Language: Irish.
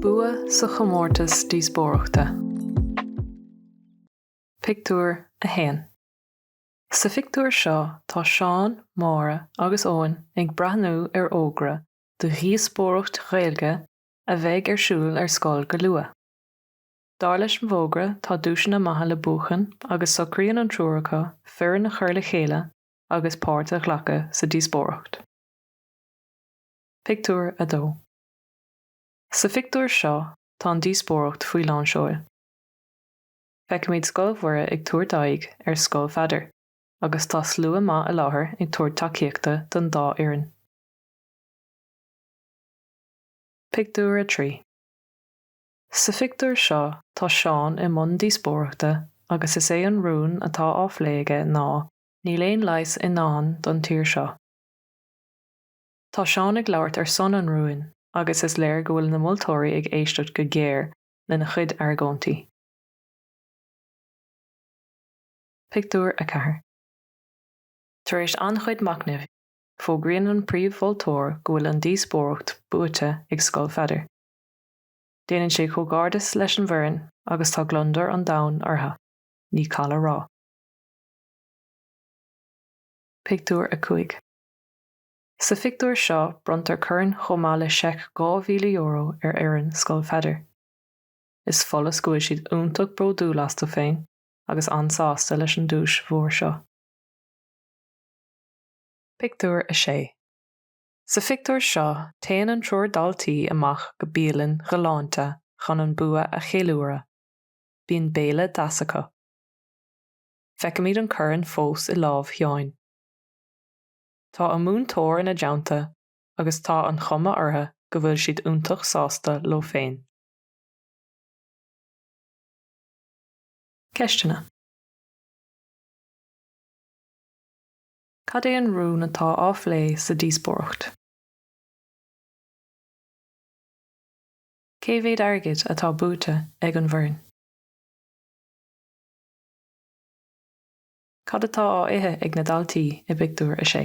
Bua sa chomórtas díospóireachta. Pictiúr 1 Sa phictiúr seo tá Seán, Máire agus Eoin ag breathnú ar fhógra do dhíospóireacht Ghaeilge a bheidh ar siúl ar scoil go luath. Dar leis an bhfógra, tá duaiseanna maithe le buachan agus socraíonn an triúr acu foireann a chur le chéile agus páirt a ghlacadh sa díospóireacht. Pictiúr 2 Sa phictiúr seo, tá an díospóireacht faoi lán seoil. Feicimid Scoil Mhuire ag tabhairt aghaidh ar Scoil Pheadair agus tá slua maith i láthair ag tabhairt tacaíochta don dá fhoireann. Pictiúr 3 Sa phictiúr seo tá Seán i mbun díospóireachta agus is é an rún atá á phlé aige ná 'Níl aon leigheas i ndán don tír seo'. Tá Seán ag labhairt ar son an rúin agus is léir go bhfuil na moltóirí ag éisteacht go géar lena chuid argóintí. Pictiúr 4 Tar éis an-chuid machnaimh, fógraíonn an príomh-mholtóir go bhfuil an díospóireacht buaite ag Scoil Pheadair. Déanann sé comhghairdeas leis an bhfoireann agus tá gliondar an domhain orthu, ní call a rá. Pictiúr 5 Sa phictiúr seo bronntar corn chomh maith le seic €2,000 ar fhoireann Scoil Pheadair. Is follas go bhfuil siad iontach bródúil astu féin agus an-sásta leis an duais mhór seo. Pictiúr 6 Sa phictiúr seo, téann an triúr daltaí amach go bialann ghalánta chun an bua a cheiliúradh. Bíonn béile deas acu. Feicimid an corn fós i lámh Sheáin. Tá a múinteoir ina dteannta agus tá an chuma orthu go bhfuil siad iontach sásta leo féin. Ceisteanna. Cad é an rún atá á phlé sa díospóireacht? Cé mhéad airgid atá buaite ag an bhfoireann? Cad atá á ithe ag na daltaí i bpictiúr a sé?